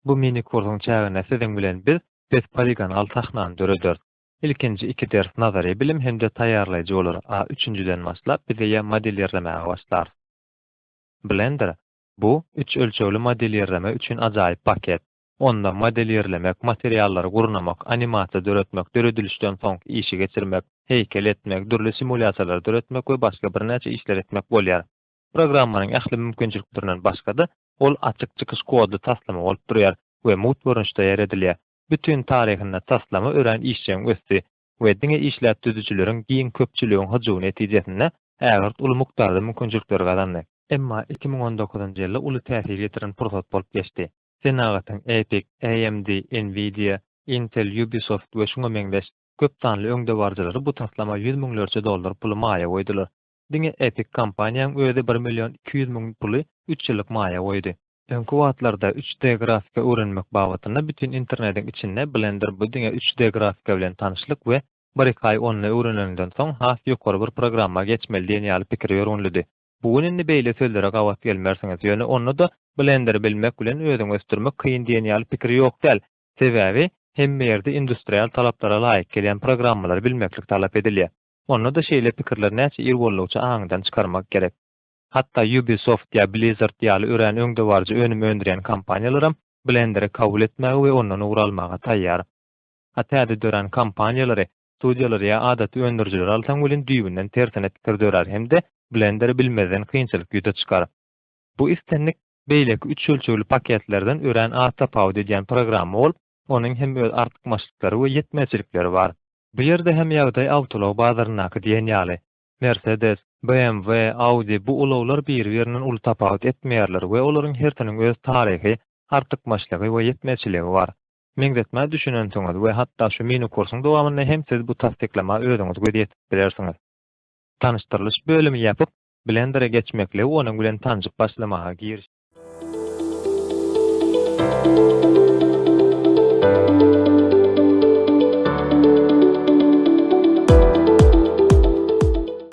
Bu mini-kursuň çäginde siziň bilen biz pes poligonal sahnany dörederis. Ilkinji iki ders nazary bilim hem-de taýýarlaýjy bolar, a üçünjiden başlap biz eýýäm modelirlemäge başlarys. Blender, bu üç ölçegli modelirleme üçin ajaýyp paket. onda model ýerlemek, materiallary gurnamak, animasiýa döretmek, döredilişden soňky işi geçirmek, heýkel etmek, dürli simulýasiýalary döretmek we başga birnäçe işleri etmek bolýar. Programmanyň ähli mümkinçiliklerinden başga-da, ol açyk çykyş kodly taslama bolup durýar we mugt görnüşde ýeredilýär. Bütin taryhynda taslama örän işjeň ösdi we diňe işläp düzüjileriň giň köpçüligiň hyjuwy netijesinde ägirt uly mukdarda mümkinçilikleri gazandy. Emma iki müň on dokuzynjy ýylda uly täsir ýetiren pursat bolup geçdi. senagatyň Epic, AMD, Nvidia, Intel, Ubisoft we şuňa meňzeş köp sanly öňdebaryjylary bu taslama ýüz müňlerçe dollar puly maýa goýdular. Diňe Epic kompaniýaň özi bir million iki ýüz müň puly üç ýyllyk maýa goýdy. Öňki wagtlarda üç D grafika öwrenmek babatynda bütin internediň içinde Blender bu diňe üç D grafika bilen tanyşlyk we bir-iki aý ony öwreneniňden soň has ýokary bir programma geçmeli diýen ýaly pikir ýörgünlidi. Bu gün indi beýle sözlere gabat gelmersiňiz, ýöne onda-da blenderi bilmek bilen özüňi ösdürmek kyn diýen ýaly pikir ýok däl. Sebäbi, hemme ýerde industrial talaplara laýyk gelýän programmalary bilmeklik talap edilýär. Onda-da şeýle pikirleri näçe ir boldugyça aňyňdan çykarmak gerek. Hatda Ubisoft ýa Blizzard ýaly örän öňdebaryjy önüm öndürýän kompaniýalaram blenderi kabul etmäge we ondan ugur almaga taýýar. A täze dörän kompaniýalary Studiýalary ýa adaty öndürijileri alsaň welin düýbünden tersine pikir dörär hem-de blenderi bilmezden kynçylyk ýüze çykar. Bu islendik beýleki üç ölçegli paketlerden örän az tapawut edýän programma bolup, onuň hem öz artykmaçlyklary we ýetmezçilikleri bar. Bu ýerde hem ýagdaý awtoulag bazaryndaky diýen ýaly. Mersedes, BMW, Audi bu ulaglar biri-birinden uly tapawut etmeýärler we olaryň hersiniň öz taryhy, artykmaçlygy we ýetmezçiligi bar. Meňzetmä düşünensiňiz we hatda şu mini-kursyň dowamynda hem siz bu tassyklama özüňiz göz ýetip bilersiňiz. Tanyşdyrylyş bölümi ýapyp, Blendere geçmekle we onuň bilen tanşyp başlamaga giriş.